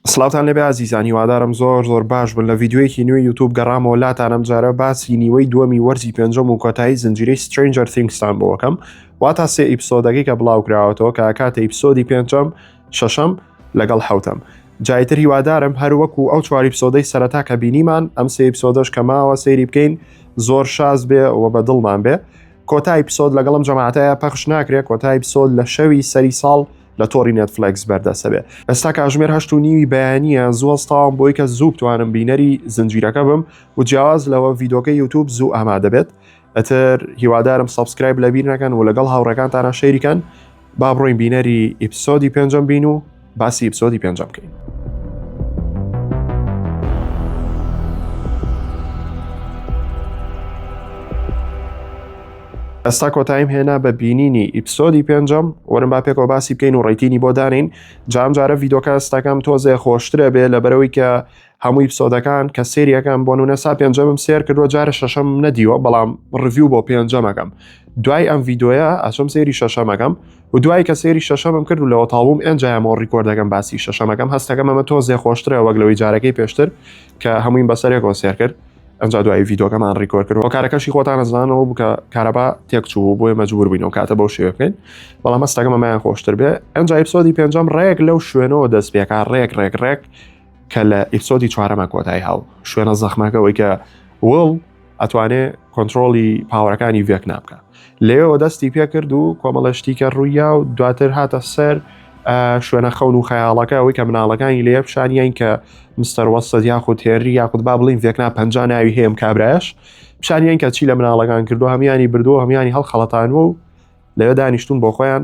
سڵاوتان لێبێ ئازیزان هیوادارم زۆر زۆر باش بن لە ڤیدیۆیەکی نوێی یوتوب گەڕامەوە لاتان ئەمجارە باسی نیوەی دووەمی وەرزی پێنجەم و کۆتایی زنجیرەی سترنجەر ثینگستان بۆکەم واتا سێ ئیپسۆدەکەی کە بڵاوکراوەتەوە کە کاتە ئیپسۆدی پێنجەم شەشەم لەگەڵ حوتەم جایتر هیوادارم هەر وەکو ئەو چواری پسۆدەی سەرەتا کە بینیمان ئەم سێ ئیپسۆدەش کە ماوە سەیری بکەین زۆر شاز بێ و بە دڵمان بێ کۆتای پسۆد لەگەڵم جەماعتەیە پەخش ناکرێت کۆتای پسۆد لە شەوی سەری ساڵ لە تۆڕی نێتفلکس بەردەسەبێ ئێستا کاژمێر هەشت و نیوی بەیانە زووە ستاوم بۆی کە زوو توانم بینەری زنجیرەکە بم و جیاواز لەوە ڤیدۆکە یوتوب زوو ئامادەبێت ئەتر هیوادارم سبسکرایب لە بیر نەکەن و لەگەڵ هاوڕەکانتانە شەیریکەن با بڕۆین بینەری ئیپسۆدی پێنجەم بین و باسی ئیپسۆدی پێنجەم بکەین. ئێستا کۆتاییم هێنا بە بینینی ئیپسۆدی پێنجەم وەرم با پێکەوە باسی بکەین و ڕێتینی بۆ دانین جام جارە ڤیدۆکە ئێستاکەم تۆزێ خۆشترە بێ لە بەرەوەی کە هەمووی پسۆدەکان کە سریەکەم بۆ نونە سا پێنجەمم سێر کردووە جارە شەشەم نەدیوە بەڵام ڕڤیو بۆ پێنجەمەکەم دوای ئەم ڤیددیوە ئەچم سێری شەشەمەکەم و دوای کە سێری شەشەمم کرد و لەوە تاڵبووم ئەنجامەوە ڕیکۆردەکەم باسی شەشەمەکەم هەستەکەم ئەمە تۆزێ خۆشترە وەگلەوەی جارەکەی پێشتر کە هەمووین بەسەرێکەوە سێر کرد ئەجا دوایی ڤیدۆکەمان ڕیکۆر کرد هۆکارەکەشی خۆتان ئەزانەوە بکە کارەبا تێک چوو بۆیە مەجبور بووینەوە کاتە بەو شێوە بکەین بەڵام مەستەکە مەمایان خۆشتر بێ ئەنج ئیپسۆدی پێنجەم ڕێک لەو شوێنەوە دەست پێکا ڕێک ڕێک ڕێک کە لە ئیپسۆدی چوارەمە کۆتایی هاو شوێنە زەخمەکەەوەی کە وڵ ئەتوانێ کۆنتترۆلی پاوەەکانی ڤێک نابکە لەوێوە دەستی پێکرد و کۆمەڵە شتیکە ڕوویا و دواتر هاتە سەر شوێنە خەون و خەیاڵەکە ئەوەی کە مناڵەکانی لێ پیشانیان کە مستەروەسەد یاخود تێری یاخود با بڵین ڤێکنا پ ناوی هەیەم کابراش پیشانیان کە چی لە مناڵەکان کردو هەمیانی بردووە هەمیانی هەڵخەڵەتانەوە و لەوێ دانیشتون بۆ خۆیان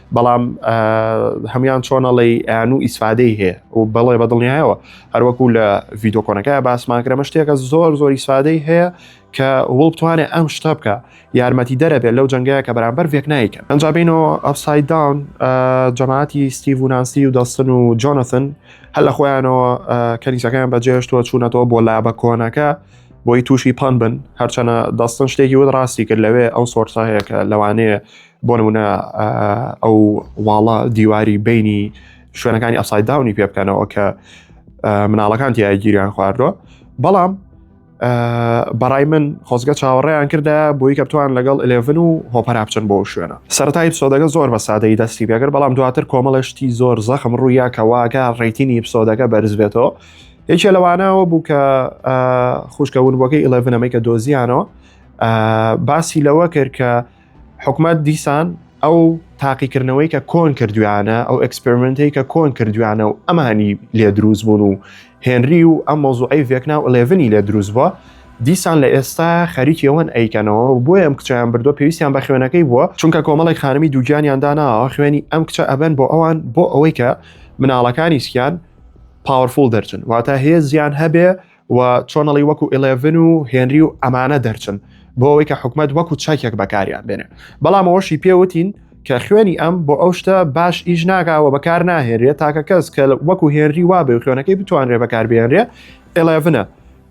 بەڵام هەمان چۆنەڵی ئەیان و ئیسفادەی هەیە و بەڵێ بە دڵنیایەوە هەروەکو لە ڤیددیوکۆنەکە باسمان کرەمە شتێکە زۆر زۆر ئیسفادەی هەیە کە وڵ بتوانێت ئەم شتە بکە یارمەتی دەرەبێت لەو جنگەیە کە بەرامبەر ڤێکنایکە ئەنجابینەوە ئەفسای داون جەماعتی ستیڤ و نانسی و دەستن و جۆنەثن هەل لە خۆیانەوە کەنیسەکەیان بەجێشتووە چوونەتەوە بۆ لابە کۆنەکە بۆی تووشی پان بن هەرچەنە دەستن شتێکی وت ڕاستی کرد لەوێ ئەو سۆرسە هەیە کە لەوانەیە بۆ نمونە ئەو واڵە دیواری بینی شوێنەکانی ئەسای داونی پێ بکەنەوە کە مناڵەکان تیا گیریان خواردوە بەڵام بەڕای من خۆزگە چاوەڕێیان کردە بۆی کە بتوان لەگەڵ ئلێڤن و هۆپەرا بچن بۆ شوێنە سەرای پسۆدەگە زۆر بە سادەی دەستی پێگر بەڵام دواتر کۆمەڵشتی زۆر زەخم ڕوویا کەواکە ڕێتینی پسۆدەکە بەرزبێتەوە یەکێ لەوانەوە بوو کە خوشکەون بۆکەی ئلێڤنەمەی کە دۆزیانەوە باسی لەوە کرد کە حکومەت دیسان ئەو تاقیکردنەوەی کە کۆن کردویانە ئەو ئەکسپرمنتی کە کۆن کردویانە و ئەمانی لێ دروست بوون و هێنری و ئەم مۆزوعی ڤێکنا و ئەلێڤنی لێ دروست بووە دیسان لە ئێستا خەریکیەوەن ئەیکەنەوە و بۆیە ئەم کچیان بردو پێویستیان بە خوێنەکەی بووە چونکە کۆمەڵی خانمی دووگیانیان داناوە خوێنی ئەم کچە ئەبەن بۆ ئەوان بۆ ئەوەی کە مناڵەکانی سکیان پاوەفول دەرچن واتە هێزیان هەبێ و چۆنەڵی وەکو ئلێڤن و هێنری و ئەمانە دەرچن بۆ ئەوەی کە حکومت وەکو چاکێک بەکاریان بێنێ بەڵام ئەوەشی پێوتین کە خوێنی ئەم بۆ ئەو شتە باش ئیش ناگاوە بەکار ناهێنرێت تاکە کەس کە وەکو هێنری وابێ و خوێنەکەی بتوانرێ بەکاربیێنرێ ئلێڤنە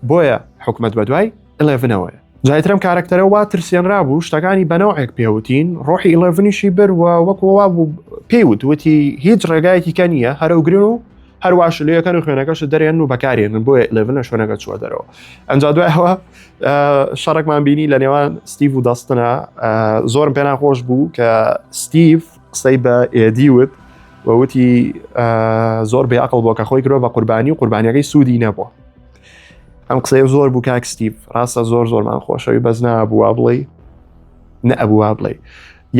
بۆیە حکومت بە دوای ئلێڤنەوەیە جایترم کارکتەرە وا ترسێنرا بوو شتەکانی بەنەوەێک پێوتین ڕۆحی ئلێڤنیشی بەروە وەکووا بوو پێیوت وتی هیچ ڕێگایەکی کە نییە هەرەوگرن و هەروە شلەکان و خوێنەکەش دەرێن و بەکارێنن بۆیە لەڤن لە شوێنەکە چوە دەرەوە ئەنج دوایەوە شەڕێکمان بینی لە نێوان ستیڤ و دەستنە زۆرم پێنا خۆش بوو کە ستیڤ قسەی بە ئێدی وت وەوتی زۆر بێ عقل بۆ کە خۆی کرۆ بە قوربانی و قوربانیەکەی سوودی نەبووە ئەم قسەیە زۆر بوو کاک ستیڤ ڕاستە زۆر زۆرمان خۆشەوی بەس نابووە بڵێ نەبووە بڵێ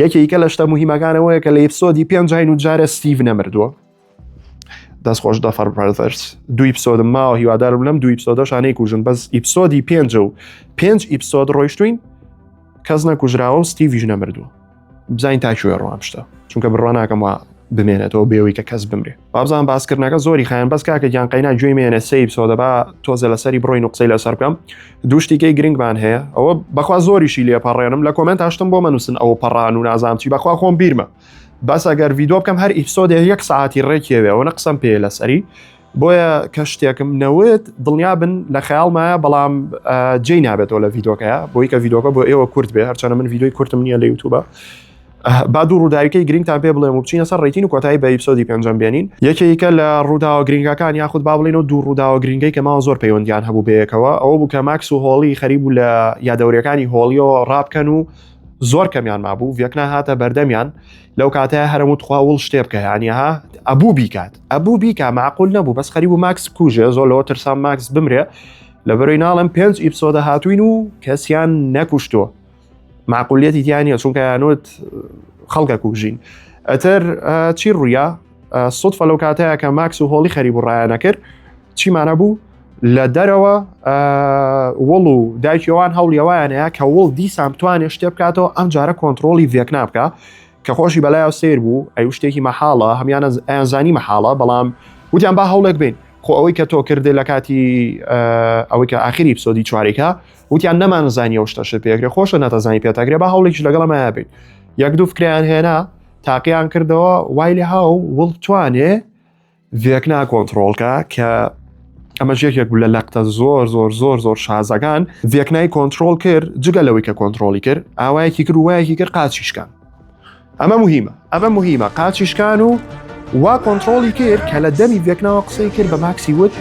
یەکێکە لە شتە مهمەکانەوەیە کە لە ئپسۆدی پێنج جین و جارە ستیڤ نەمردووە دەست خۆش دەفەر بەرزەرس دوی پسۆدم ماوە هیوادارم لەم دوی پسۆدەشانەی کوژن بەس ئیپسۆدی پێنج و پێنج ئیپسۆد ڕۆیشتوین کەس نەکوژراوە و ستیڤژ نەمردووە بزانین تاکوێ ڕوام شتە چونکە بڕوان ناکەم وە بمێنێتەوە بێەوەی کە کەس بمرێ بابزان باسکردنەکە زۆری خیان بەس کاکە گیان قەینا گوێی مێنە سیب سۆدەبا تۆزە لەسەری بڕۆین و قسەی لەسەر بکەم دوشتیکەی گرنگمان هەیە ئەوە بەخوا زۆریشی لێپەڕێنم لە کۆمنت هاشتم بۆ مەنووسن ئەوە پەڕان و نازانام چی بەخوا خۆم بیرمە بەس ئەگەر ڤیدۆ بکەم هەر ئیپسۆدێ یەک ساعتی ڕێکیەوێ ئەوە قسەم پێ لەسەری بۆیە کە شتێکم نەوت دڵنیا بن لە خەیاڵمایە بەڵام جێی نابێتەوە لە ڤیدۆکەیە بۆی کە ڤیدۆکە بۆ ئێوە کورت بێ هەرچەنە من ڤیدۆی کورتم نییە لە یوتوبە با دوو ڕووداویکەی گرنگتان پێ بڵێم و بچینە سەر ڕێتین و کۆتایی بە ئیپسۆدی پێنجەم بێنین یەکێکە لە ڕووداوە گرنگەکان یاخود با بڵین و دوو ڕووداوە گرنگەی کە ماوە زۆر پەیوەندیان هەبوو بەیەکەوە ئەوە بوو کە ماکس و هۆڵی خەریبوو لە یادەورەکانی هۆڵیەوە ڕابکەن و زۆر کەمیان مابوو ڤێکنا هاتە بەردەمیان لەو کاتەیە هەرم و تخوا وڵ شتێ بکە هەنیها ئەبوو بیکات ئەبوو بیکە معقول نەبوو بەس خەری و ماکس کوژێ زۆر لەوە ترسان ماکس بمرێ لە بەرەوەی ناڵم پێنج ئیپسۆدە هاتوین و کەسیان نەکوشتۆ معقولیەتی دیانە چونکە یانوت خەڵکە کوژین ئەتر چی ڕویە سوود فەلو کاتەیە کە ماکس و هۆڵی خەری بڕایانە کرد چیمانە بوو لە دەرەوە وڵ و دایکیەوان هەوڵیەوەیانەیە کە وڵ دیسان بتوانێت شتێ بکاتەوە ئەم جارە کۆنتترۆلی ڤێک نابکە کە خۆشی بەلایەوە سیر بوو ئەی شتێکی مەحاڵە هەمیانە ئەیانزانی مەحاڵە بەڵام وتیان با هەوڵێک بین خۆ ئەوەی کە تۆ کردێ لە کاتی ئەوەی کە ئاخری پسۆدی چوارێکە وتیان نەمان زانانی ئەو شتەش پێکرێ خۆشە نەتەزانی پێتاگرێ بە هەوڵێکش لەگەڵمە بین یەک دوو فکریان هێنا تاقییان کردەوە وای لە هاو وڵ توانێ ڤێکنا کۆنتترۆڵکە کە ئەمەش یەکێک لە لەقتە زۆر زۆر زۆر زۆر شازەکان ڤێکنای کۆنتترۆل کرد جگە لەوەی کە کۆنتترۆلی کرد ئاوایەکی کرد وایەکی کرد قاچیشکان ئەمە مهمە ئەمە مهمە قاچیشکان و وا کۆنتترۆلی کرد کە لە دەمی ڤێکناوە قسەی کرد بە ماکسی وت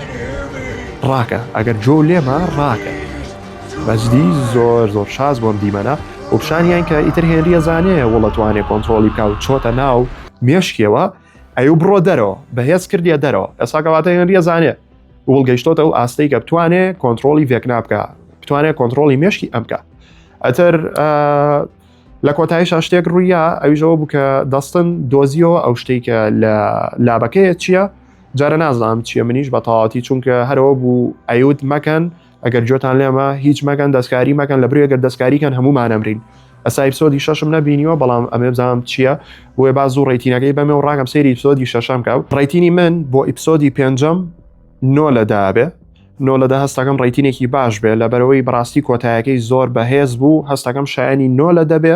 ڕاکە ئەگەر جۆ لێمە ڕاکە بەجدی زۆر زۆر شاز بۆم دیمەنە وپشانیان کە ئیتر هێنریە زانەیە وڵەتوانێ کۆنتترۆلی بکە و چۆتە ناو مێشکیەوە ئەیو بڕۆ دەرەوە بەهێز کردیە دەرەوە ئێسا گەڵاتە هێنریە زانێ گوڵ گەیشتۆتە ئەو ئاستەی کە بتوانێ کۆنتترۆلی ڤێکنا بکە بتوانێت کۆنتترۆلی مشکی ئەم بکە ئەتر لە کۆتاییشا شتێک ڕوویە ئەویژەوە بوو کە دەستن دۆزیەوە ئەو شتێک کە لە لابەکەیە چییە؟ جارە نازانم چیە منیش بە تەواتی چونکە هەرەوە بوو ئەیوت مەکەن ئەگەر گوێتان لێمە هیچ مەگەن دەستکاری مەکەن لە برێگەر دەستکاریکەن هەمومان ئەمرین ئەسا ئیپسۆدی شەشم نەبینیوە بەڵام ئەمێ بزانم چییە بۆێ با زوو ڕێتینەکەی بەمێ و ڕاگەم سێری ئیپسۆدی شەشەم کە ڕێتینی من بۆ ئیپسۆدی پێنجەم نۆ لە دابێ نۆ لە دە هەستەکەم ڕێتینێکی باش بێ لە بەرەوەی بڕاستی کۆتایەکەی زۆر بەهێز بوو هەستەکەم شایانی نۆ لە دەبێ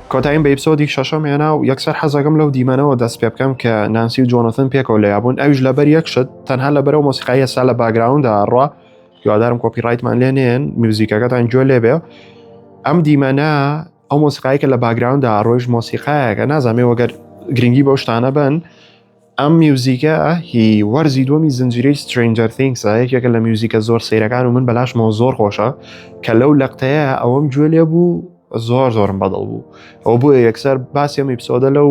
کۆتاییم بە ئیپسۆدی شەشەم هێنا و یەکسەر حەزەکەم لەو دیمەنەوە دەست پێ بکەم کە نانسی و جۆنۆثن پێکەوە لەیابوون ئەویش لەبەر یەک شت تەنها لەبەر ئەو مۆسیقای ئێستا لە باگراوندا ئەڕوا هیوادارم کۆپی ڕایتمان لێ نێن میوزیکەکەتان گوێ لێ بێ ئەم دیمەنە ئەو مۆسیقایکە لە باگراوندا ڕۆیش مۆسیقایەکە نازانێ وەگەر گرنگی بەو شتانە بن ئەم میوزیکە هی وەرزی دووەمی زنجیرەی سترینجەر ثینگسە یەکێکە لە میوزیکە زۆر سەیرەکان و من بەلاشمەوە زۆر خۆشە کە لەو لەقتەیە ئەوەم گوێ لێ بوو زۆر زۆرم بەدڵ بوو ئەو بۆیە یەکسەر باسی ئەم ئیپسۆدە لەو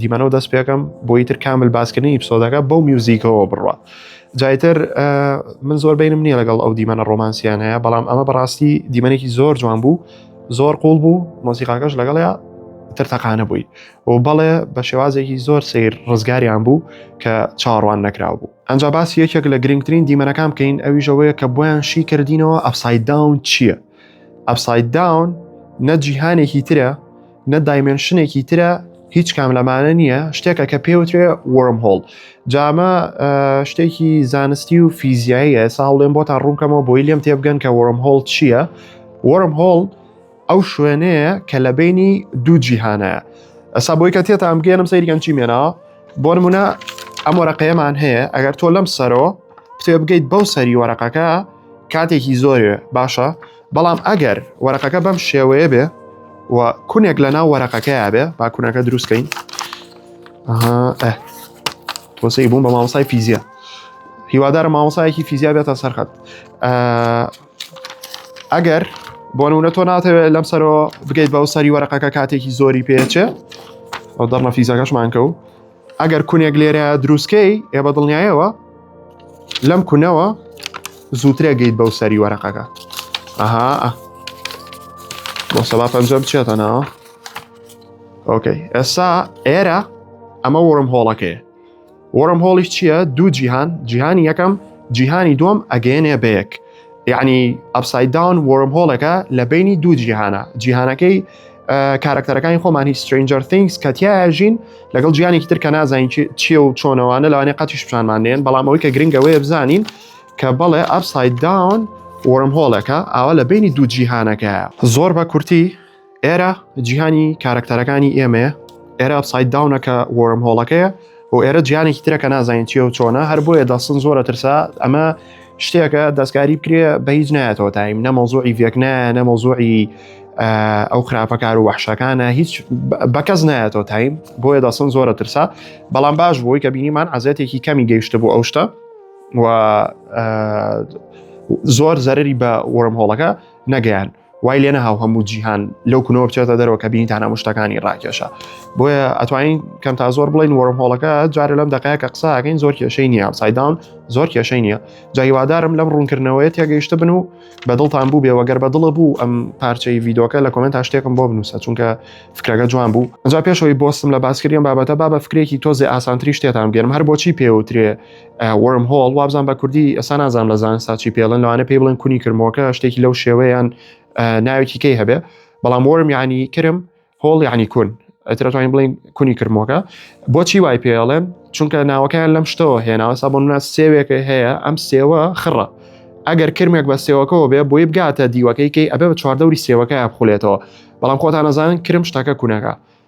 دیمەنەوە دەست پێکەم بۆی تر کامل باسکردنی ئیپسۆدەکە بەو میوزیکەوە بڕە جایتر من زۆر بینم نییە لەگەڵ ئەو دیمەنە ڕۆمانسیان هەیە بەڵام ئەمە بەڕاستی دیمەنێکی زۆر جوان بوو زۆر قوڵ بوو مۆسیقاکەش لەگەڵەیە ترتەقانە بووی و بەڵێ بە شێوازێکی زۆر سیر ڕزگاریان بوو کە چاڕوان نەکراو بوو ئەجا باسی یەکێک لە گرنگترین دیمەنەکان بکەین ئەویشەوەیە کە بۆیان شی کردینەوە ئەفساید داون چییە؟ ئەفساید داون نە جیهانێکی ترە نە دایمنشنێکی ترە هیچ کام لەمانە نییە شتێکە کە پێوترێ وەرم هۆڵ جامە شتێکی زانستی و فیزیاییە ساڵێن بۆ تا ڕوونکەمەوە بۆی لێم تێبگەن کە وەرم هۆڵ چییە؟ وەرم هۆڵ ئەو شوێنەیە کە لە بینی دوو جیهانەیە ئەسا بۆی کە تێتان بگەێنم سەیرگەن چی مێنا بۆ نمونە ئەم وەرەقەیەمان هەیە ئەگەر تۆ لەم سەرۆ پێ بگەیت بەو سەری وەرەقەکە کاتێکی زۆرێ باشە بەڵام ئەگەر وەرەقەکە بەم شێوەیە بێ و کونێک لە ناو وەرەقەکەیا بێ با کونەکە دروستکەین تۆسی بووم بە مامۆسای فیزیا هیوادارە مامۆسایەکی فیزیا بێتە سەرخەت ئەگەر بۆ نمونە تۆ ناتەوێت لەم سەرەوە بگەیت بەو سەری وەرەقەکە کاتێکی زۆری پێچێ ئەو دەڕمە فیزەکەشمان کە و ئەگەر کونێک لێرە دروستکەی ئێ بە دڵنیایەوە لەم کونەوە زووترێ گەیت بەو سەری وەرەقەکە ئەها بۆ سەبا پەنجە بچێتە ناوە ئۆکەی ئێستا ئێرە ئەمە وەرم هۆڵەکەی وەرم هۆڵیش چییە دوو جیهان جیهانی یەکەم جیهانی دوم ئەگەێنێ بەیەک یعنی ئەپسایدداون وەرم هۆڵەکە لە بینی دوو جیهانە جیهانەکەی کارکتەرەکانی خۆمانی سترنجەر تینگس کە تیاژین لەگەڵ جیانێکی تر کە نازانین چیە و چۆنەوانە لەوانێ قەتیش پیشانمان دێن بەڵام ئەوی کە گرنگەوەی بزانین کە بەڵێ ئەپسایدداون وەرم هۆڵەکە ئاوا لە بینی دوو جیهانەکە زۆر بە کورتی ئێرە جیهانی کارەکتەرەکانی ئێمەیە ئێرە ئەپساید داونەکە وەرم هۆڵەکەیە و ئێرە جیانێکی ترەکە نازانین چیە و چۆنە هەر بۆیە دەستن زۆرە ترسا ئەمە شتێکە دەستکاری بکرێ بە هیچ نایەتەوە تایم نەمەزۆی ڤێکنە نەمەزۆی ئەو خراپەکار و وحشەکانە هیچ بەکەس نایەتەوە تایم بۆیە دەسن زۆرە ترسا بەڵام باش بۆی کە بینیمان عزیەتێکی کەمی گەیشتە بۆ ئەو شتە و زۆر زەرری بە وەرم هۆڵەکە نەگەیان وای لێ نەهاو هەموو جیهان لەو کونەوە بچێتە دەرەوە کە بینی تانا مشتەکانی ڕاکێشە بۆیە ئەتوانین کەم تا زۆر بڵین وەرم هۆڵەکە جارە لەم دقەیە کە قساکەین زۆر کێشەی نییە سایداون زۆر کێشەی نییە جایوادارم لەم ڕوونکردنەوەی تێگەیشت بن و بەدڵتان بوو بێوەگەر بەدڵە بوو ئەم پارچەی یددیوکە لە کۆمنت شتێکم بۆ بنووسە چونکە فکرەکە جوان بوو جا پێشەوەی بۆستم لە باسکریم بابەتە بابە فکرێکی تۆزێ ئاسانتری شتێتان بێنم هەر بۆچی پێوترێ وەرم هۆڵ وابزان بە کوردی ئەسا نازان لە زانسا چی پێڵن لەوانە پێی بڵێن کونی کرمۆکە شتێکی لەو شێوەیان ناوێکی کەی هەبێ بەڵام وەرم یعنی کرم هۆڵ یعنی کون ئەترەتوانین بڵین کونی کرمۆکە بۆچی وای پێڵێن چونکە ناوەکەیان لەم شتەوە هێناوە سا بۆ منە سێوێکە هەیە ئەم سێوە خڕە ئەگەر کرمێک بە سێوەکەەوە بێ بۆی بگاتە دیوەکەی کەی ئەبێ بە چواردەوری سێوەکە بخولێتەوە بەڵام خۆتان نەزانن کرم شتەکە کوونەکە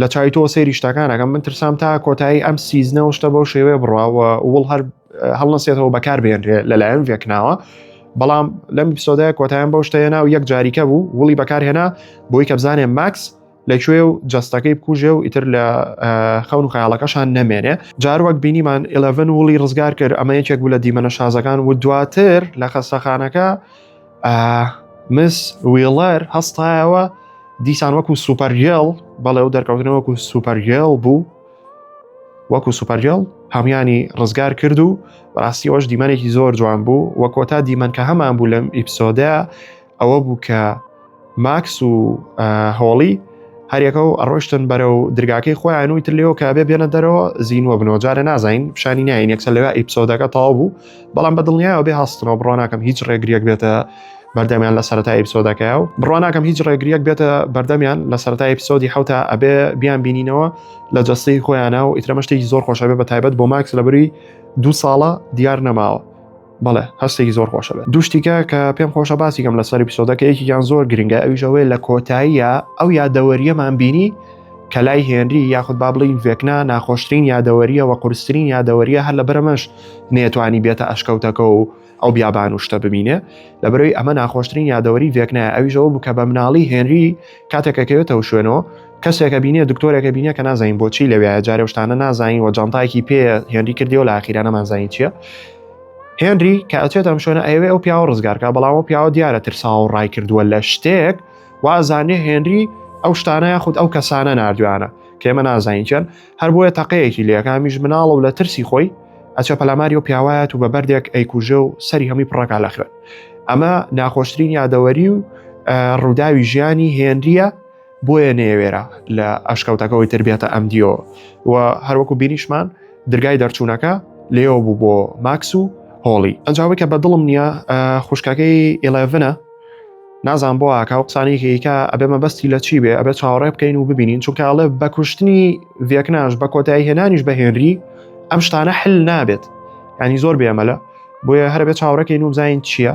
لە چای تۆ سەیری شتەکانەکەم من ترسام تا کۆتایی ئەم سیزنە و شتە بەو شێوەیە بڕاوە وڵ هەر هەڵنەسێتەوە بەکار بێنرێ لەلایەن ڤێکناوە بەڵام لەم پیسۆدای کۆتایان بەو شتەیە ناو یەک جاریکە بوو وڵی بەکارهێنا بۆی کە بزانێ ماکس لەکوێ و جستەکەی بکوژێ و ئیتر لە خەون و خیاڵەکەشان نەمێنێ جار وەک بینیمان 11 وڵی ڕزگار کرد ئەمە یەکێک بوو لە دیمەنە شازەکان و دواتر لە خەستەخانەکە مس ویڵەر هەستایەوە دیسان وەکو سوپەرگێڵ بەڵێ و دەرکەوتنە وەکو سوپەرگێڵ بوو وەکو سوپەرگێڵ هەمویانی ڕزگار کرد و بەڕاستیەوەش دیمەنێکی زۆر جوان بوو وە کۆتا دیمەنکە هەمان بوو لەم ئیپسۆدە ئەوە بوو کە ماکس و هۆڵی هەرێکە و ئەڕۆشتن بەرە و درگاکەی خۆیان وی تر لێەوە کابێ بێنە دەرەوە زیینوە بنەوە جارە نازین پیشانی نین یەکسەر لەوێ ئیپسۆدەکە تاو بوو بەڵام بە دڵنیایەوە بێ هەستنەوە بڕۆناکەم هیچ ڕێگریەک بێتە بەردەمیان لە سەرای ئیپسۆدەکە و بڕۆناکەم هیچ ڕێگریەک بێتە بەردەمیان لە سەرای ئیپسۆدی حوتا ئەبێ بیان بینینەوە لە جەستی خۆیانە و ئیترەمەشتێکی زۆر خۆشەبێ بە تایبەت بۆ ماکس لەبری دوو ساڵە دیار نەماوە بەڵێ هەستێکی زۆر خۆشە بێت دوشتیکە کە پێم خۆشە باسیکەم لە سەری پیسۆدەکە یەکیان زۆر گرنگە ئەویشەوەی لە کۆتاییە ئەو یادەوەریەمان بینی کە لای هێنری یاخود با بڵین ڤێکنا ناخۆشترین یادەوەریە و قورسترین یادەوەریە هەر لە بەرەمەش نێتوانی بێتە ئەشکەوتەکە و ئەو بیابان و شتە ببینێ لە بەرەوەی ئەمە ناخۆشترین یادەوەری ڤێکنایە ئەویشەوە بوو کە بە مناڵی هێنری کاتێکەکەوێتەوە شوێنەوە کەسێک ئەبینێ دکتۆرێک ئەبینێ کە نازانین بۆچی لەوێ جارێ شتانە نازانین و جانتایەکی پێ هێنری کردیەوە لە ئاخیرانە مازانین چییە هێنری کە ئەچێت ئەم شوێنە ئەوێ ئەو پیاوە ڕزگارکە بەڵام ئەو پیاوە دیارە ترساوە و ڕای کردووە لە شتێک وازانێ هێنری ئەو شتانە یاخود ئەو کەسانە نردویانە کێمە نازانین چەند هەر بۆیە تەقەیەکی لێکامیش مناڵە و لە ترسی خۆی ئەچە پەلاماری و پیاوایەت و بە بەردێک ئەیکوژە و سەری هەمی پڕەکە لە خوێن ئەمە ناخۆشترین یادەوەری و ڕووداوی ژیانی هێنریە بۆیە نێوێرا لە ئەشکەوتەکەەوەی تربێتە ئەم دیۆ و هەروەکو بینیشمان درگای دەرچوونەکە لێەوە بوو بۆ ماکس و هۆڵی ئەنجاوی کە بە دڵم نییە خوشکەکەی ئێلڤنە نازان بۆ ئاکا و قسانێکیکە ئەبێ مەبەستی لە چی بێ ئەبێت چاوەڕێ بکەین و ببینین چونکە ئەڵێ بە کوشتنی ڤێکناش بە کۆتایی هێنانیش بە هێنری ئەم شتانە حل نابێت ینی زۆر بێمەلە بۆیە هەربێت چاوەڕەکەین و بزانین چییە؟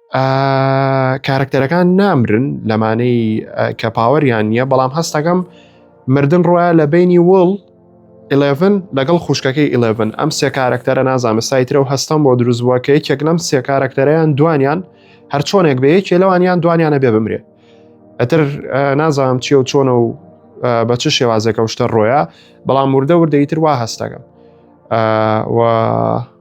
کارکتەرەکان نامرن لەمانەی کە پاوەریان نییە بەڵام هەستەکەم مردن ڕۆە لە بینی وڵ 11 لەگەڵ خوشکەکەی 11 ئەم سێ کارکتەرە نازانە سایترە و هەستم بۆ دروست بووە کە یەکێک لەم سێ کارکتەریان دوانیان هەر چۆنێک بێ یەکێ لەوانیان دوانیانە بێ بمرێ ئەتر نازانم چی و چۆنە و بە چ شێوازێکە شتە ڕۆیە بەڵام وردە وردەیتر وا هەستەکەم و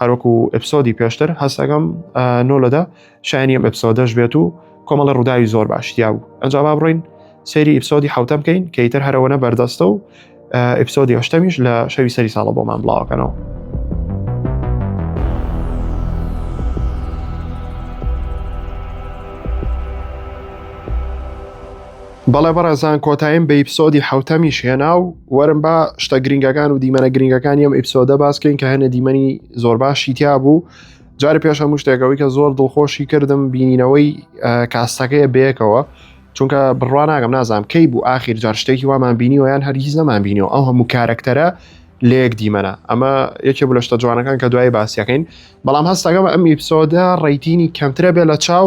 هەروەکو ئەپسۆدی پێشتر هەستەکەم نۆ لەدە شایانی ئەم ئەپسۆدەش بێت و کۆمەڵە ڕووداوی زۆر باشتیا بوو ئەنجا با بڕین سەیری ئیپسۆدی حوتە بکەین کە ئیتر هەرەوەە بەردەستە و ئیپسۆدی هەشتەمیش لە شەوی سەری ساڵە بۆمان بڵاوکەنەوە. بەڵێ بەڕێزان کۆتایم بە ئیپسۆدی حەوتەمیش هێنا و وەرم با شتە گرنگەکان و دیمەنە گرنگەکانی ئەم ئیپسۆدە باسکەین کە هەنە دیمەنی زۆر باشی تیا بوو جارە پێش هەموو شتێکەوەی کە زۆر دڵخۆشی کردم بینینەوەی کاستەکەی بەیەکەوە چونکە بڕوان ناگەم نازانام کەی بوو ئاخیر جار شتێکی وامان بینی ویان هەرگیز نەمان بینیەوە ئەو هەموو کارەکتەرە لەیەک دیمەنا ئەمە یەکێ بوو لە شتە جوانەکان کە دوای باسیەکەین بەڵام هەستەکەم ئەم ئیپسۆدە ڕیتینی کەمترە بێ لە چاو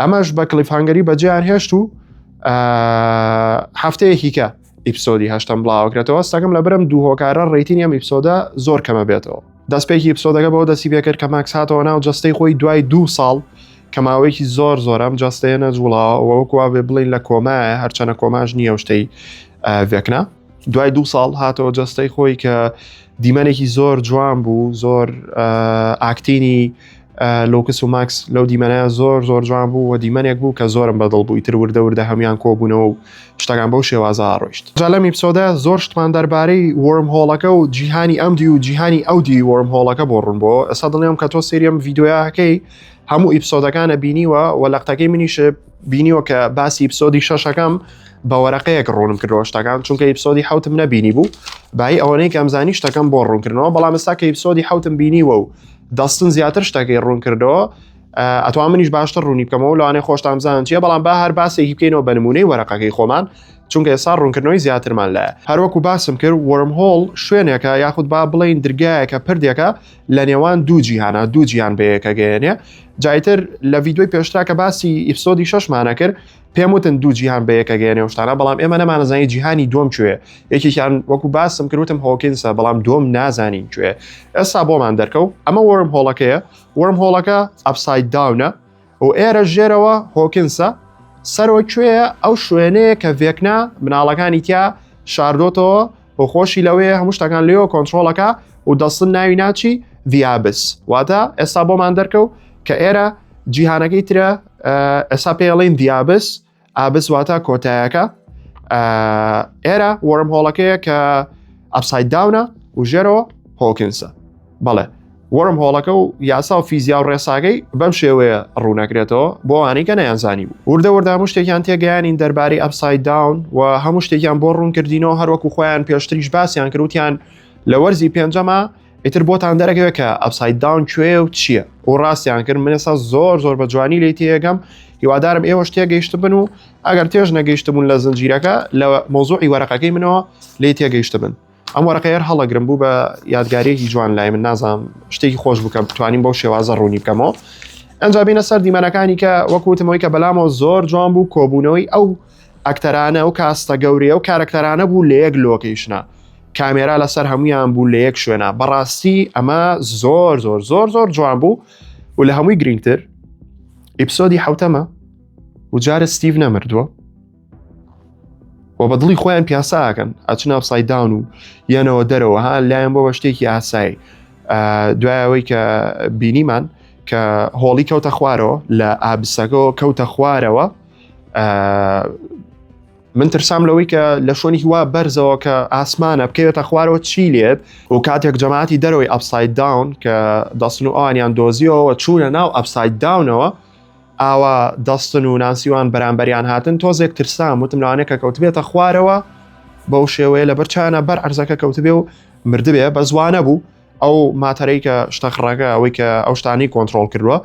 ئەمەش بە کلیفهانگەری بەجیان هێشت و هەفتەیەکیکە ئیپسۆدی هەشتم بڵاوکرێتەوە سەگم لە برم دوو هۆکارە ڕیتین ئەم ئیپسۆدە زۆر کەمە بێتەوە دەستپێکی ئیپسۆدەکە بەەوە دەسی پێکرد کە ماکس هاتەوە ناو جستەی خۆی دوای دوو ساڵ کەماوەیەکی زۆر زۆرم جستەیە نەجوڵاوەوەکووا بێ بڵین لە کۆمایە هەرچەنە کۆماش نییە شتەی ڤێکنا دوای دوو ساڵ هاتەوە جەستەی خۆی کە دیمەنێکی زۆر جوان بوو زۆر ئاکتینی لۆکس و ماکس لەو دیمەنەیە زۆر زۆر جوان بوو و دیمەنێک بوو کە زۆرم بەدڵ بووی تر وردە وردە هەموان کۆبوونەوە و شتەکان بەو شێوازە ڕۆیشت جالەم ئیپسۆدە زۆر شتمان دەربارەی وەرم هۆڵەکە و جیهانی ئەم دی و جیهانی ئەو دی وەرم هۆڵەکە بۆ ڕوون بۆ ئەسا دڵنیام کە تۆ سریەم یددیویاکەی هەموو ئیپسۆدەکانە بینیوە و لەقتەکەی منیش بینیوە کە باسی ئیپسۆدی شەشەکەم بە وەرەقەیەک ڕوونم کردەوە شتەکان چونکە ئیپسۆدی حوتم نەبینی بوو بای ئەوەی کەمزانی شتەکەم بۆ ڕوونکردنەوە بەڵام ئستا کە ئیپسۆدی حوتم بینیوە و دەستن زیاتر شتەکەی ڕوون کردەوە ئەتوا منیش باشتر ڕوونی بکەمەوە لەوانێ خۆشتان زان چیە بەڵام با هەر باسێکی بکەینەوە بە نمونەی وەرەقەکەی خۆمان چونکە ئێستا ڕوونکردنەوەی زیاترمان لە هەروەکو باسم کرد وەرم هۆڵ شوێنێکە یاخود با بڵین درگایەکە پردێکە لە نێوان دوو جیهانە دوو جیان بەیەکە گەێنێ جایتر لە ویددیوی پێشتا کە باسی ئیفسۆدی شەشمانە کرد پێم وتن دوو جیهان بەیەکە گەێنێ شتانە بەڵام ئێمە نەمانەزانی جیهانی دۆم کوێ یەکێکیان وەکو باسم کردوتم هۆکینسە بەڵام دۆم نازانین کوێ ئێستا بۆمان دەرکەوت ئەمە وەرم هۆڵەکەیە وەرم هۆڵەکە ئەفساید داونە و ئێرە ژێرەوە هۆکنسە سەرۆ کوێە ئەو شوێنەیە کە ڤێکنا مناڵەکانی تیا شاردۆتەوە و خۆشی لەوەیە هەموو شتەکان لێەوە کۆنتترۆلەکە و دەستن ناوی ناچی ڤیابس واتە ئێستا بۆمان دەرکەوت کە ئێرە جیهانەکەی ترە ئێستا پێڵین ڤیابس ئابس واتە کۆتایەکە ئێرە وەرم هۆڵەکەیە کە ئەپسای داونە و ژێرەوە هۆکنسە بەڵێ وەرم هۆڵەکە و یاسا و فیزیا و ڕێساگەی بەم شێوەیە ڕوونەکرێتەوە بۆ ئەوانەی کە نەیانزانی بوو وردە وردام و شتێکیان تێگەیانین دەربارەی ئەپسای داون و هەموو شتێکیان بۆ ڕوونکردینەوە هەروەکو خۆیان پێشتریش باسییان کروتیان لە وەرزی پێنجەمە ئیتر بۆتان دەرەکەوێت کە ئەپسای داون کوێ و چییە و ڕاستیان کرد منێسا زۆر زۆر بە جوانی لی تێگەم هیوادارم ئێوە شتێ گەیشت بن و ئەگەر تێژ نەگەیشتبوون لە زنجیرەکە لە مۆزوعی وەرەقەکەی منەوە لی تێگەیشت بن ئەم وەرەقەیەر هەڵەگرم بوو بە یادگارێکی جوان لای من نازانم شتێکی خۆش بکەم توانین بەو شێوازە ڕوونی بکەمەوە ئەنجابینە سەر دیمەنەکانی کە وەکوتمەوەی کە بەلامەوە زۆر جوان بوو کۆبوونەوەی ئەو ئەکتەرانە و کاستە گەورەیە و کارەکتەرانە بوو لە یەک لۆکەیشنە کامێرا لەسەر هەمویان بوو لە یەک شوێنە بەڕاستی ئەمە زۆر زۆر زۆر زۆر جوان بوو و لە هەمووی گرنگتر ئیپسۆدی حوتەمە وجارە ستیڤ نەمردووە و بە دڵی خۆیان پیاساکەن ئەچنا سایداون و یەنەوە دەرەوە ها لایەن بۆ بە شتێکی ئاسایی دوایەوەی کە بینیمان کە هۆڵی کەوتە خوارەوە لە ئابسەکەەوە کەوتە خوارەوە من ترسام لەوەی کە لە شوۆنی هیوا بەرزەوە کە ئاسمانە بکەوێتە خوارەوە چی لێت و کاتێک جەماعتی دەرەوەی ئەفساید داون کە دەستن و ئەوانیان دۆزیەوە چوونە ناو ئەفساید داونەوە ئاوا دەستن و ناسیوان بەرامبەریان هاتن تۆزێک ترسام وتم لەوانێک کە کەوتبێتە خوارەوە بەو شێوەیە لە بەرچانە بەر ئەرزەکە کەوتبێ و مردبێ بە زوانە بوو ئەو ماتەرەی کە شتەخڕەکە ئەوەی کە ئەو شتانی کۆنتترۆل کردووە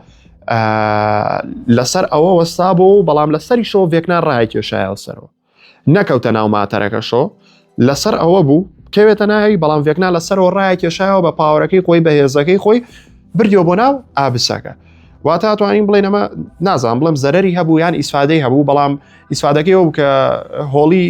لەسەر ئەوە وەستا بۆ و بەڵام لەسەری شۆ ڤێکنا ڕای کێشایەوە سەرەوە نەکەوتە ناو ماتەرەکە شۆ لەسەر ئەوە بوو کەوێتە ناوی بەڵام ڤێکنا لەسەرەوە ڕای کێشایەوە بە پاوەەکەی خۆی بەهێزەکەی خۆی بردیەوە بۆ ناو ئابسەکە واتە توانین بڵێن ئەمە نازان بڵم زەرری هەبوو یان ئیسفادەی هەبوو بەڵام ئیسفادەکەی ئەو کە هۆڵی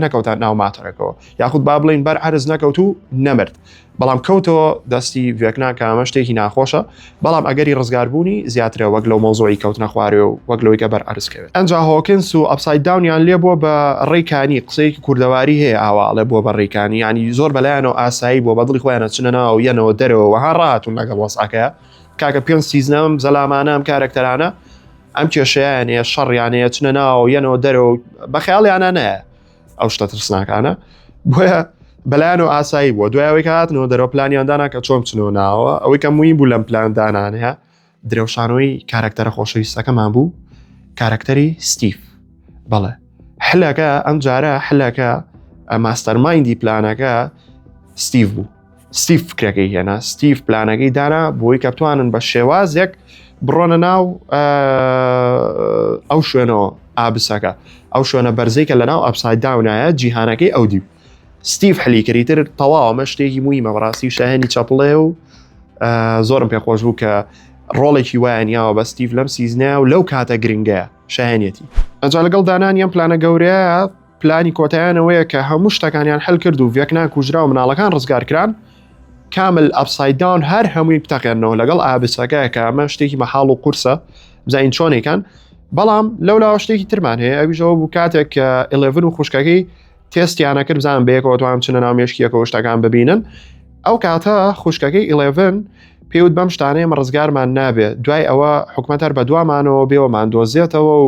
نەکەوتان ناو ماتەرەکەەوە یاخود با بڵین بەر عرز نەکەوت و نەمرد بەڵام کەوتەوە دەستی ڤێکنا کە ئەمە شتێکی ناخۆشە بەڵام ئەگەری ڕزگاربوونی زیاترە وەک لەو مۆزۆی کەوتنە خوارێ و وەک لەوەی گەبەر ئەرزکەوێت ئەنجا هۆکنس و ئەپسای داونیان لێ بووە بە ڕێکانی قسەیەکی کوردەواری هەیە ئاواڵێ بووە بە ڕێکانی ینی زۆر بەلایەنەوە ئاسایی بووە بە دڵی خۆیانە چنە ناو یەنەوە دەرەوە وەها ڕاتون لەگەڵ وەسعەکە کاکە پێنج سیزنەم زەلامانەم کارەکتەرانە ئەم کێشیانەیە شەڕیانەیە چنە ناو یەنەوە دەرەوە بە خەیاڵیانە نایە ئەو شتە ترسناکانە بۆیە بەلایەن و ئاسایی بووە دوایەوەی هاتنەوە دەرەوە پلانیان دانا کە چۆن بچنەوە ناوە ئەوەی کە مووی بوو لەم پلان دانانەیە درەوشانەوەی کارکتەرە خۆشەویستەکەمان بوو کارکتەری ستیف بەڵێ حلەکە ئەم جارە حلەکە ماستەرمایندی پلانەکە ستیف بوو ستیف فکرەکەی هێنا ستیف پلانەکەی دانا بۆی کە بتوانن بە شێوازێک بڕۆنە ناو ئەو شوێنەوە ئابسەکە ئەو شوێنە بەرزەی کە لە ناو ئەپسای داونایە جیهانەکەی ئەو دیب ستیف حلیکەری تر تەواومە شتێکی مویمە بەڕاستی شایانی چەپڵێ و زۆرم پێ خۆش بوو کە ڕۆڵێکی وایان یاوە بە ستیف لەم سیزنە و لەو کاتە گرنگەیە شایەنەتی ئەجا لەگەڵ دانان یان پلانە گەورەیە پلانی کۆتایان ئەوەیە کە هەموو شتەکانیان هەل کرد و ڤێکنا کوژرا و مناڵەکان ڕزگار کران، کامل ئەپساید داون هەر هەمووی بتەقێننەوە لەگەڵ ئابسەکە کە ئەمە شتێکی مەحاڵ و قورسە بزانین چۆنێکان بەڵام لەولاوە شتێکی ترمان هەیە ئەویشەوە بوو کاتێک کە ئلێڤن و خوشکەکەی تێستیانە کرد بزان بەیەکەوە توان چنە ناو مێشکیەکەەوە شتەکان ببینن ئەو کاتە خوشکەکەی ئلێڤن پێوت بەم شتانەیە مە ڕزگارمان نابێت دوای ئەوە حکومەت هەر بە دوامانەوە بێەوەمان دۆزێتەوە و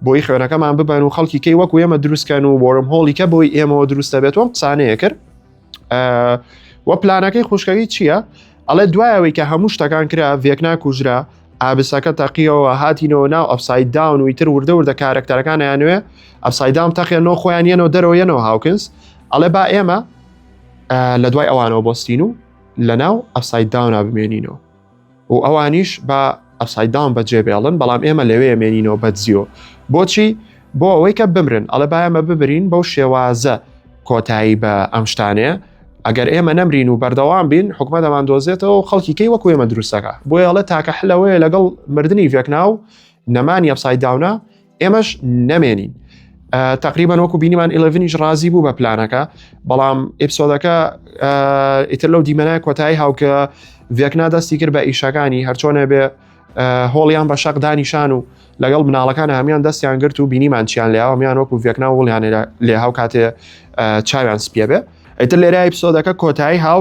بۆی خوێنەکەمان ببەن و خەڵکی کەی وەکو ئێمە دروستکەن و بۆرم هۆڵیکە بۆی ئێمەوە دروستە بێت وەم قسانەیە کرد وە پلانەکەی خوشکەوی چییە؟ ئەڵێ دوایەوەی کە هەموو شتەکان کرا ڤێکنا کوژرا ئابسەکە تەقیەوە هاتینەوە ناو ئەفسای داون و ئیتر وردە وردە کارەکتەرەکان یانوێ ئەفسایدام تەقێنەوە خۆیان یەنەوە دەرەوە یەنەوە هاوکنس ئەڵێ با ئێمە لە دوای ئەوانەوە بۆستین و لە ناو ئەفسای داونا بمێنینەوە و ئەوانیش بە ئەپسای داون بە جێ بێڵن بەڵام ئێمە لەوێ مێنینەوە بە جیۆ بۆچی بۆ ئەوەی کە بمرن ئەڵە بایەمە ببرین بەو شێوازە کۆتایی بە ئەم شتانەیە ئەگەر ئێمە نەمرین و بەردەوام بین حکومە دەمان دۆزێتەوە خەڵکی کەی وەکو ئێمە دروستەکە بۆ ئەڵە تاکە حلەوەیە لەگەڵ مردنی ڤێکناو نەمانی ئەپسای داونە ئێمەش نەمێنین تقریبان وەکو بینیمان ئلڤنیش ڕازی بوو بە پلانەکە بەڵام ئپسۆدەکە ئیتر لەو دیمەنای کۆتایی هاوکە ڤێکنا دەستی کرد بە ئیشەکانی هەرچۆنە بێ هۆڵیان بە شەق دانیشان و لەگەڵ مناڵەکان هەمیان دەستیان گرت و بینیمان چیان لەیاوە میان وەکو ڤێکنا وڵیان لێ هاو کاتێ چاویان سپیە بێ ئەتر لێرای پسۆدەکە کۆتایی هاو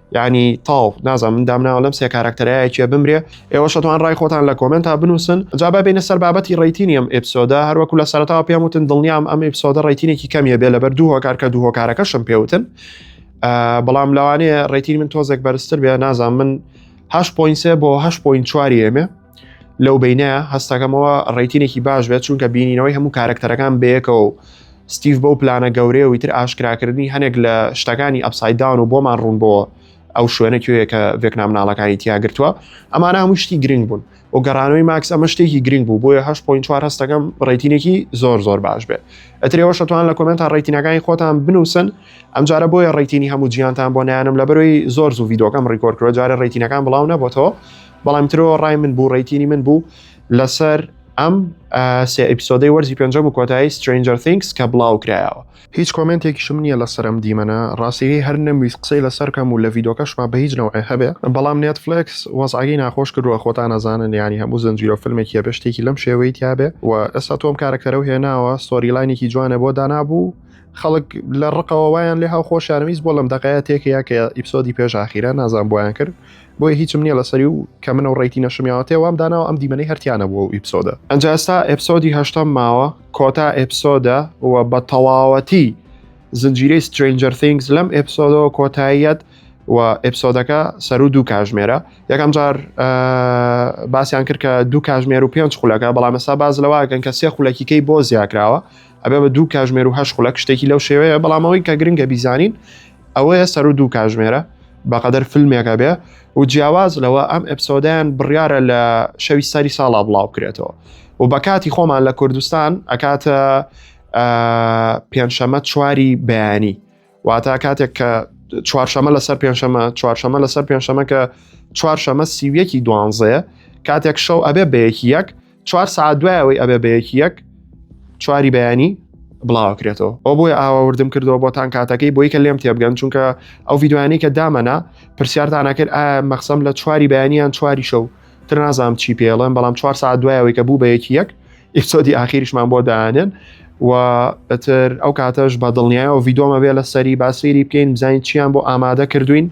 یعنی تاو نازم من دامناوە لەم سێ کارکتەرایەکیە بمرێ ئێوە شتوان ڕای خۆتان لە کۆمنت تا بنووسن جابا بینە سەر بابەتی ڕیتینی ئەم ئپسۆدا هەروەکو لە سەرتاوە پێم وتن دڵنیام ئەم ئپسۆدە ڕیتینێکی کەمیە بێ لەبەر دوو هۆکار کە دوو هۆکارەکەشم پێوتن بەڵام لەوانەیە ڕێتین من تۆزێک بەرزتر بێ نازان من هەش پوین سێ بۆ هەش پوین چواری ئێمێ لەو بینە هەستەکەمەوە ڕێتینێکی باش بێت چونکە بینینەوەی هەموو کارەکتەرەکان بەیەکەوە و ستیف بەو پلانە گەورەیە و تر ئاشکراکردنی هەنێک لە شتەکانی ئەپسایدان و بۆمان ڕوون بۆ ئەو شوێنە کوێیە کە ڤێکنام ناڵەکانی تیاگرتووە ئەمانە هەموو شتی گرنگ بوون و گەڕانەوەی ماکس ئەمە شتێکی گرنگ بوو بۆیە 1970 هەستەکەم ڕێتینێکی زۆر زۆر باش بێت ئەترەوە شتوان لە کۆمنتا ڕێتینەکانی خۆتان بنووسن ئەمجارە بۆیە ڕێتینی هەموو جیانتان بۆ نیانم لە بەرەوەی زۆر زوو یددیوکەم ڕیکۆرکرۆ جارە ڕێتینەکان بڵاو نەبتەوە بەڵام ترۆ ڕای من بوو ڕیتینی من بوو لەسەر ئەم سێ ئەپسۆدەی وەرزی پێنجە و کۆتایی سترنجەر تینکس کە بڵاو کرایەوە هیچ کۆمنتێکیشم نییە لەسەر ئەم دیمەنە ڕاستیی هەر نەمویست قسەی لەسەر کەم و لە ڤیدۆکەشما بە هیچ نەوعێ هەبێ بەڵام نێتفلێکس وەزعەگەی ناخۆش کردووە خۆتان ئەزانن یانی هەموو زنجیرۆ فلمێکی هەبێ شتێکی لەم شێوەی تیابێ و ئێستا تۆم کارەکتەرەو هێناوە ستۆری لاینێکی جوانە بۆ دانابوو خەڵک لە ڕقەوە وایان لێ هاو خۆشیانویست بۆ لەم دەقەیە تێکەیە کە ئیپسۆدی پێش ئاخیرە نازان بۆیان کرد بۆیە هیچم نییە لەسەری و کە منە و ڕێیتی نەشمیاوەتێ وام داناوە ئەم دیمەنەی هەرتیانە بووە و ئیپسۆدە ئەنجا ئێستا ئەپسۆدی هەشتەم ماوە کۆتا ئەپسۆدە و بە تەواوەتی زنجیرەی سترنجەر ثینگز لەم ئەپسۆدەوە کۆتاییەت و ئەپسۆدەکە سەر و دوو کاژمێرە یەکەم جار باسییان کرد کە دوو کاژمێر و پێنج خولەکە بەڵام ئێستا باز لەواگەن کە سێ خولەکیکەی بۆ زیاکراوە ئەبێ بە دوو کاژمێر و هەش خولەک شتێکی لەو شێوەیە بەڵامەوەی کە گرنگە بیزانین ئەوەیە سەر و دوو کاژمێرە بەقەدەر فیلمێکە بێ و جیاواز لەوە ئەم ئەپسۆدیان بڕیارە لە شەوی سەری ساڵا بڵاو کرێتەوە و بە کاتی خۆمان لە کوردستان ئەکاتە پێنجشەمە چواری بەیانی واتە کاتێک کە چوارشەمە لەسەر پێنجشەمە چوارشەمە لەسەر پێنجشەمە کە چوارشەمە سیویەکی دوانزەیە کاتێک شەو ئەبێ بەیەکی یەک چوار سعات دوای ئەوەی ئەبێ بە یەکی یەک چواری بەیانی بڵاوکرێتەوە ئەو بۆی ئاوەوردم کردەوە بۆتان کاتەکەی بۆی کە لێم تێبگەن چونکە ئەو یددیوانی کە دامەنا پرسیارتانەکرد ئایا مەخسم لە چواری بەیانیان چواری شەو تر نازام چی پێڵێن بەڵام چوار ساعت دوایەوەی کە بوو بە یەکی یەک ئیسۆدی ئاخیریشمان بۆ دانێن و ئەتر ئەو کاتەش بە دڵنیایەوە یددیۆمە بێ لە سەری باسفێری بکەین بزانین چیان بۆ ئامادە کردوین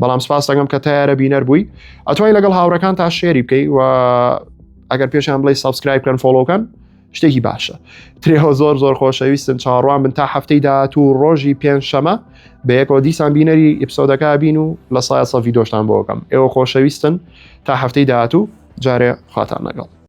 بەڵام سپاس دەگەم کە تیارە بینەر بووی ئەتوای لەگەڵ هاوڕەکان تا شێری بکەی و ئەگەر پێشیان بڵی سبسکرایب کەن فۆلۆکەن شتێکی باشە ترێەوە زۆر زۆر خۆشەویستن چاڕوان من تا هەفتەی داات و ڕۆژی پێنج شەمە بە یەکەوە دیسان بینەری ئیپسۆدەکە بین و لە سایە سەڤیدۆشتان بۆکەم ئێوە خۆشەویستن تا هەفتەی داات و جارێ خواتان لەگەڵ